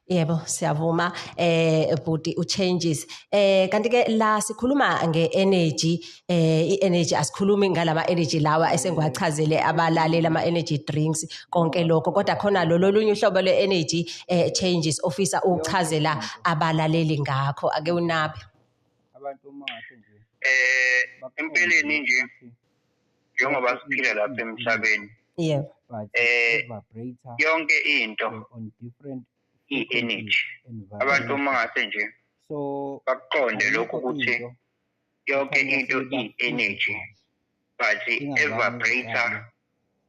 Yebo siyavuma eh bhuti u changes eh kanti ke la sikhuluma nge energy eh i energy asikhulumi ngalama energy lawa esengiwachazele abalaleli ama energy drinks konke lokho kodwa khona lo lolunye uhlobo le energy eh changes ofisa ukuchazela abalaleli ngakho ake unaphe abantu uma nje eh empeleni nje njengoba siphila lapha emhlabeni yeah. eh yonke into i-energy abantu uma ngase nje bakuqonde lokhu ukuthi yonke into i-energy but evaporator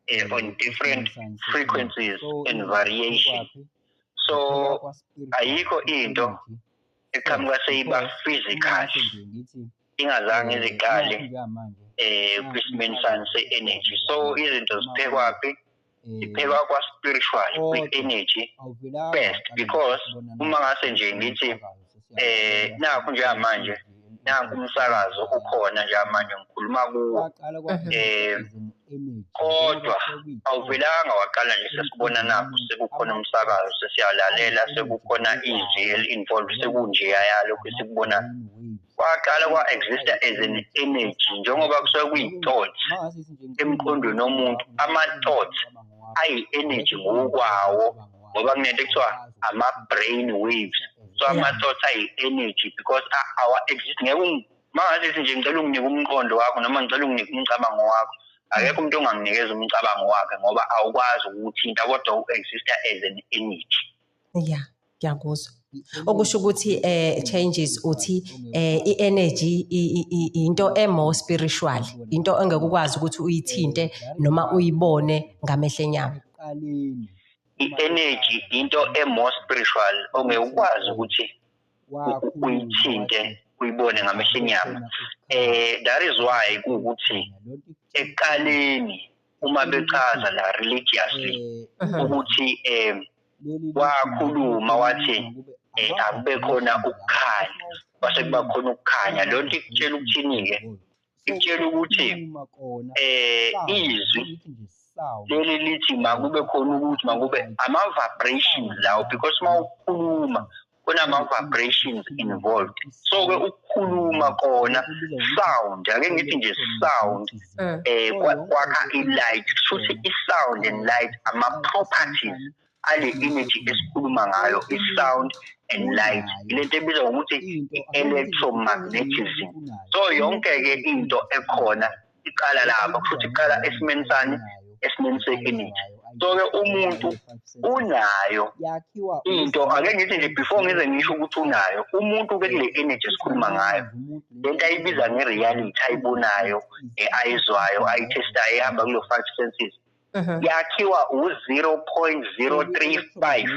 eh, on different frequencies and variation so ayikho into eqhamuka seyiba physical ingazange iziqale eh kwisimeni sani se-energy so izinto ziphekwaphi iphekwa kwa-spiritual kwi-energy first because uma ngase nje ngithi eh nakho njengamanje nanku umsakazo ukhona njengamanje ngikhuluma kuwo um kodwa awuvelanga waqala nje sesibonanapho sekukhona umsakazo sesiyalalela sekukhona izwi eli-involved sekunjeya yalokhu esikubonayo kwaqala kwa-exista as an energy njengoba kusuke kuyi-thought emqondweni womuntu ama-thought ayi-energy ngokwawo ngoba kunento ekuthiwa ama-brain waves so ama-thought ayi-energy because awa-exist ngeke Mangalithi nje ngicela unginike umqondo wakho noma ngicela unginike umcabango wakho. Akekho umuntu onganginikeza umcabango wakhe ngoba awukwazi ukuthinta kodwa u-exista as an energy. Ya, ngiyakuzwa. Okusho ukuthi eh changes uthi eh i-energy i- i- i- into e-more spiritual, into engeke ukwazi ukuthi uyithinte noma uyibone ngamehlo enyama. I-energy into e-more spiritual ongeke ukwazi ukuthi uyithinte uyibone ngamehlo enyama eh that is why ukuthi eqaleni uma bechaza la religiously eh, ukuthi eh wakhuluma wathi eh akube khona ukukhanya base kuba khona ukukhanya lonto ikutshela ukuthini ke Ngitshela ukuthi eh izwi leli lithi makube khona ukuthi makube ama-vibrations lawo because uma ukhuluma kunama-vibrations involved so-ke ukukhuluma kona sound ake ngithi nje sound um kwakha i-light kusho ukuthi i-sound and light ama-properties ale energy esikhuluma ngayo i-sound and light lento ebizwa ngokuthi i-electromagnetism so yonke-ke into ekhona iqala lapho futhi iqala esimeni sani esimeni se-energy so-ke umuntu unayo into ake ngithi nje before ngize ngisho ukuthi unayo umuntu ke kule energy esikhuluma ngayo le nto ayibiza nge-reality ayibonayo e-ayizwayo ayithestayo ehamba kulo-five senses yakhiwa u-0.035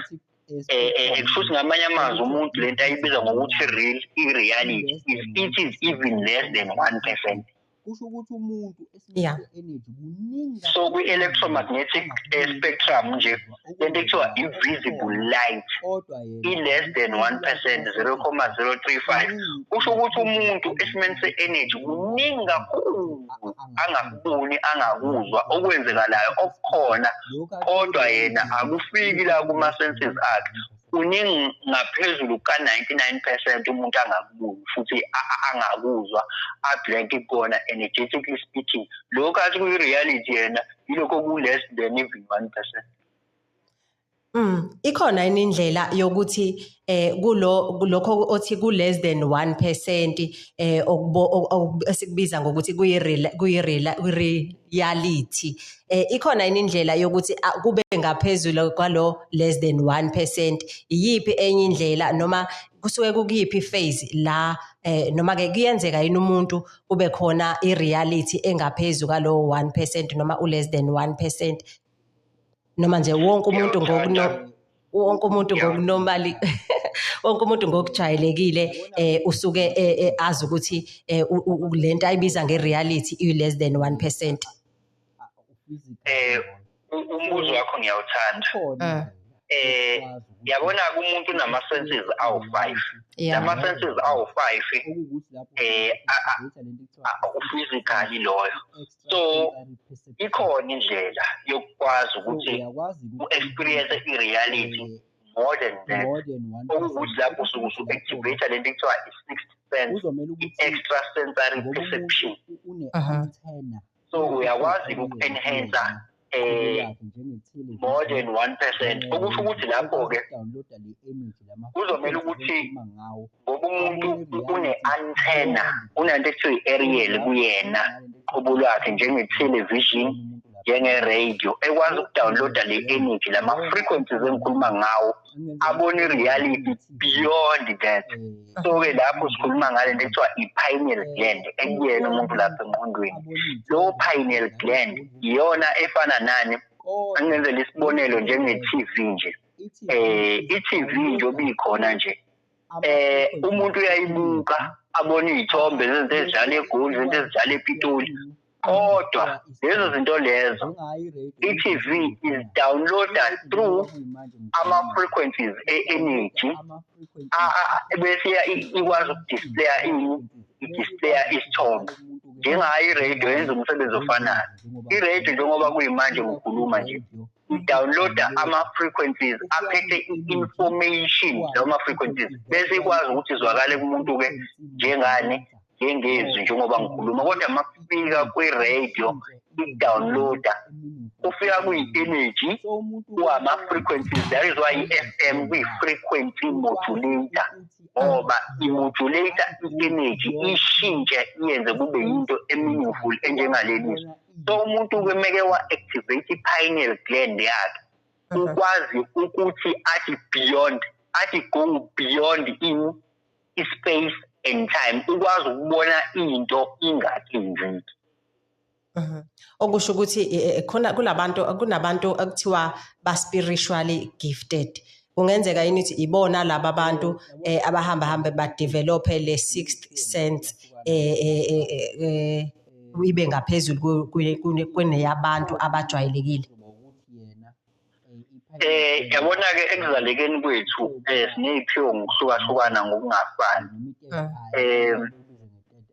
eh, eh, futhi ngamanye amazwi umuntu lento ayibiza ngokuthi real i-reality is it is even less than one percent kusho ukuthi umuntu yeah. energy kuningi so kwi-electromagnetic eh, spectrum nje lento ekuthiwa invisible light i-less than one percent zero comma zero three five kusho ukuthi umuntu esimeni se-energy kuningi kakhulu angakuboni angakuzwa okwenzekalayo okukhona kodwa yena akufiki la kuma-senses akhe kuningi ngaphezulu kuka-99 percent umuntu angakuboni futhi angakuzwa ablank kona energetically speaking lokho athi kuyi-reality yena yilokho ku-less than even one percent Mm ikhona yini indlela yokuthi eh kulo lokho othi ku less than 1% eh okubo esikubiza ngokuthi kuyi real kuyi real reality eh ikhona yini indlela yokuthi ah, kube ngaphezulu kwalo less than 1% iyiphi enye indlela noma kusuke kukuyiphi phase la eh noma ke kuyenzeka yini umuntu kube khona i reality engaphezulu kwalo 1% noma u less than 1% noma nje wonke umuntu ngokuno wonke umuntu ngokunomali wonke umuntu ngokujayelekile eh usuke eh, eh, azi ukuthi eh, lento ayibiza nge reality i less than 1% eh umbuzo wakho ngiyawuthanda eh, eh yabona kumuntu nama senses awu 5 lama senses awu 5 eh physically loyo so ikhona indlela yokwazi ukuthi u experience i reality eh, more than that okuwukuthi lapho usuke usu-activate le nto kuthiwa i-sixth sense i-extra sensory perception so uyakwazi uku-enhancer eh more than 1% okusho ukuthi lapho ke kuzomela ukuthi ngoba umuntu une-antenna unanto ekuthiwa i-ariel kuyena uqobo lwakhe njenge-television njenge-radio ekwazi ukudownloada le-energy lama-frequencies engikhuluma ngawo abone i-reality beyond that eh. so-ke lapho sikhuluma ngale nto ekuthiwa i-pineal eh. gland ekuyena umuntu lapha engqondweni lowo pineal gland iyona efana nani angenzela isibonelo njenge-t v nje um i-t v nje obikhona nje eh umuntu uyayibuka abona izithombe zezinto ezidlala egoli izinto ezidlala epitoli kodwa lezo zinto lezo i-tv is downloada through ama-frequencies e-energy bese ikwazi ukudisplaya ini idisplaya isithombe njengayo iradio yenza umsebenzi ofanayo iradio njengoba kuyimanje ngikhuluma nje downloada ama-frequencies aphethe i-information lawo ma-frequencies bese ikwazi ukuthi izwakale kumuntu-ke njengani njengezwi njengoba ngikhuluma kodwa uma kufika kwi-radio i-downloada kufika kuyi-energy kuwama-frequencies that is why i-f m kuyi-frequency modulator ngoba imodulator i-energy ishintshe iyenze kube yinto e-meaningful enjengaleli zwi so umuntu kumeke wa-activate i-pineal gland yakhe mhm. ukwazi ukuthi athi beyond athi go beyond in i-space and time ukwazi ukubona into ingathi nziki mhm. okusho ukuthi e, e, khona kulabantu kunabantu ekuthiwa ba spiritually gifted kungenzeka yini ukuthi ibona laba bantu eh, abahamba hambe ba develop le sixth sense eh, eh, eh, eh, eh ibe ngaphezulu kweneyabantu abajwayelekile eh yabona ke ekuzalekeni kwethu eh sineziphiwo ngokuhlukahlukana ngokungafani mm. eh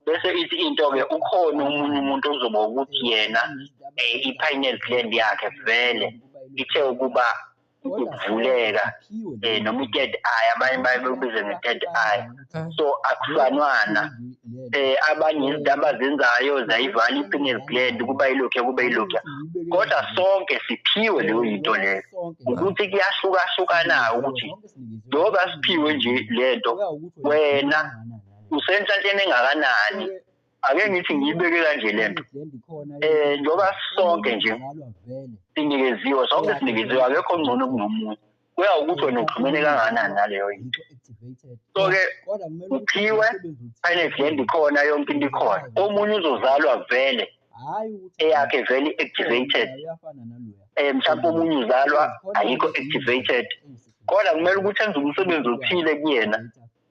bese ithi into ke ukhona umunye umuntu ozoba ukuthi yena eh, i-pineal gland yakhe vele ithe ukuba ukuvuleka eh noma i-third eye abanye baye bekubize nge-third eye so akufanwana eh abanye izinto abazenzayo zayivala i-pineal gland kuba ilokhu kube ilokhu kodwa sonke siphiwe leyo yinto leyo ukuthi kuyahlukahlukana ukuthi njengoba siphiwe nje lento wena usenhlanhleni engakanani ake ngithi ngiyibeke kanje le nto um njengoba sonke nje sinikeziwe sonke sinikeziwe akekho ngcono kunomunye kuya ukuthi wena uxhumene kangakanani naleyo into so-ke uphiwe finance land ikhona yonke into ikhona omunye uzozalwa vele eyakhe vele i-activated um mhlawumpe omunye uzalwa ayikho activated kodwa kumele ukuthi enze umsebenzi othile kuyena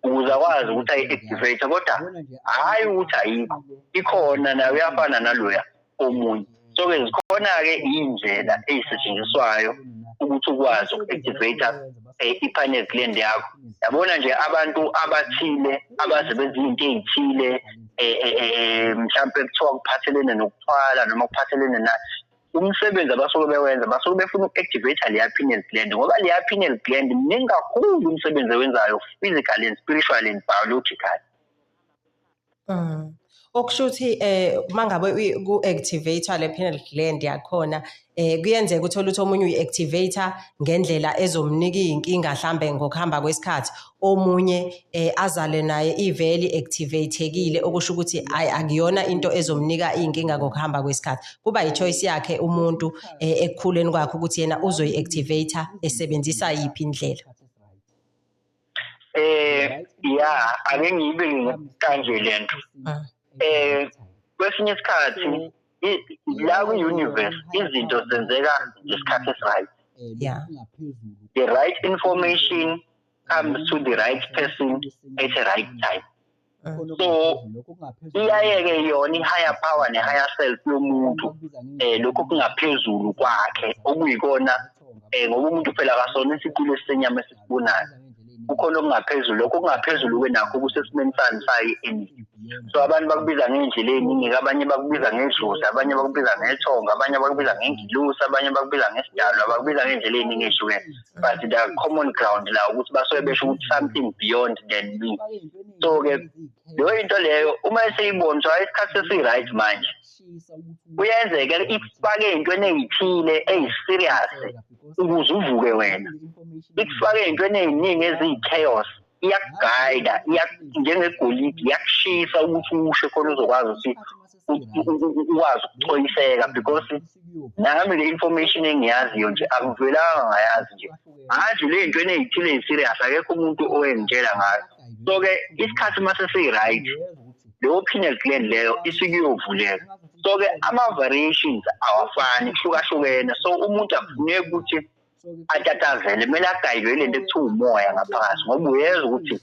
ukuze akwazi ukuthi ayi-activate kodwa hhayi ukuthi ayikho ikhona nayo uyafana naloya omunye so-ke zikhona-ke iy'ndlela ey'setshenziswayo ukuthi ukwazi uku-activate eh, i-panel gland yakho yabona nje abantu abathile abaze benza izinto ey'thile um mhlawumpe kuthiwa kuphathelene nokuthwala noma kuphathelene na umsebenzi abasuke bewenza basuke befuna uku-activate leya pineal gland ngoba leya pineal gland mningi kakhulu umsebenzi ewenzayo physically and spiritually and biologically mm. okusho ukuthi um eh, uma ngabe ku-activator le pineal gland yakhona um kuyenzeka ukuthi olutho omunye uyi-activator ngendlela ezomnika iy'nkinga hlambe ngokuhamba kwesikhathi omunye eh, azale naye iveli activatekile okusho ukuthi hayi akuyona into ezomnika iy'nkinga ngokuhamba kwesikhathi kuba yichoice yakhe umuntu eh, ekukhuleni kwakhe ukuthi yena uzoyi-activate esebenzisa yiphi indlela eh ya ake ngibe kanje lento ah. eh kwesinye isikhathi la kwi-universe izinto zenzeka ngesikhathi esiright yeah. the right information comes to the right person at the right time so iyaye-ke yona i-higher power ne-higher self yomuntu um lokhu kungaphezulu kwakhe okuyikona um ngoba umuntu phela kasona isiqulu esisenyama esisibonayo kukhona okungaphezulu lokho okungaphezulu kwenakho kusesimeni sani sayi eningi so abantu bakubiza ngey'ndlela ey'ningi-ke abanye bakubiza ngedlozi abanye bakubiza ngethongo abanye bakubiza ngengilusi abanye bakubiza ngesidalwa bakubiza ngey'ndlela ey'ningi ehlukene but the common ground la ukuthi basuke besho ukuthi something beyond than me so-ke leyo into leyo uma eseyibona so isikhathi sesi-right manje kuyenzeka ikufake entweni eyithile eyiserious ukuze uvuke wena ikufake entweni eziningi eziyi-chaos iyakugayida njengegolidi iyakushisa ukuthi ushe khona uzokwazi ukuthi ukwazi ukucoyiseka because nami le information engiyaziyo nje akuvelanga ngayazi nje manje le ntweni eyithile yi-serious akekho umuntu owengitshela ngayo so-ke isikhathi uma sesiyi-right leyo pineal gland leyo isuke iyovuleka so ke ama variations awafani kuhlukahlukene so umuntu akufuneki ukuthi atatazele kumele agayibele lento ekuthiwa umoya ngaphakathi ngoba uyezwa ukuthi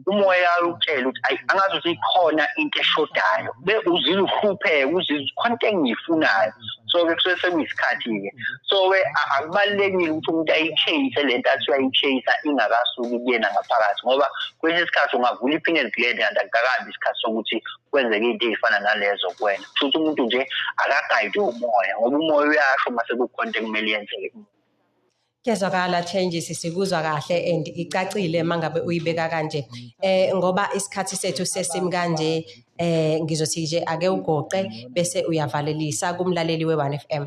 umoya utshela ukuthi ayi angazi ukuthi ikhona into eshodayo be uzile uhlupheke uzizwa khona into engiyifunayo so ke kusuke sekuyisikhathi-ke so-ke akubalulekile ukuthi umuntu ayichase le nto athi uyayichasa ingakasuki kuyena ngaphakathi ngoba kwesinye isikhathi ungavula i-penal gland kanti akukakabi isikhathi sokuthi kwenzeke into ey'fana nalezo kuwena kusho ukuthi umuntu nje akagayide umoya ngoba umoya uyasho uma sekukhona into ekumele yenzeke Kezwakala changes sikuzwa kahle and icacile mangabe uyibeka kanje eh ngoba isikhathi sethu sesim kanje eh ngizothi nje ake ugoqe bese uyavalelisa kumlaleli we1 FM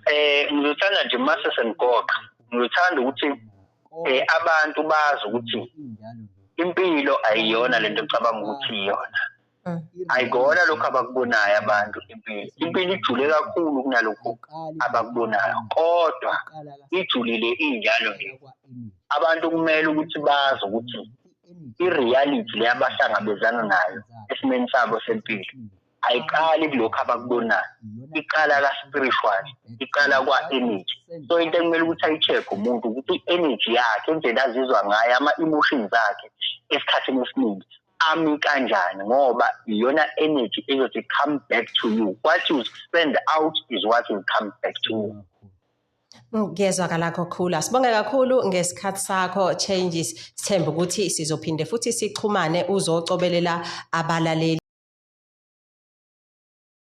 eh ngizothanda nje mase sengigoqa ngithanda ukuthi eh abantu bazi ukuthi impilo ayiyona lento ecabanga ukuthi iyona Mm. ayikona lokho abakubonayo abantu impilo impilo ijule kakhulu kunalokhu abakubonayo kodwa ijulile injalo nje abantu kumele ukuthi bazi ukuthi i-reality le abahlangabezana nayo esimeni sabo sempilo ayiqali kulokhu abakubonayo iqala ka-spiritual iqala kwa-energy so into ekumele ukuthi ayi-check umuntu ukuthi i-energy yakhe indlela azizwa ngayo ama-emotions akhe esikhathini esiningi ami kanjani ngoba iyona energy ezothi come back to you what you spend out is what will come back to you Ngiyezwakala kakhulu. Sibonge kakhulu ngesikhathi sakho Changes. Sithemba ukuthi sizophinde futhi sixhumane uzocobelela abalaleli.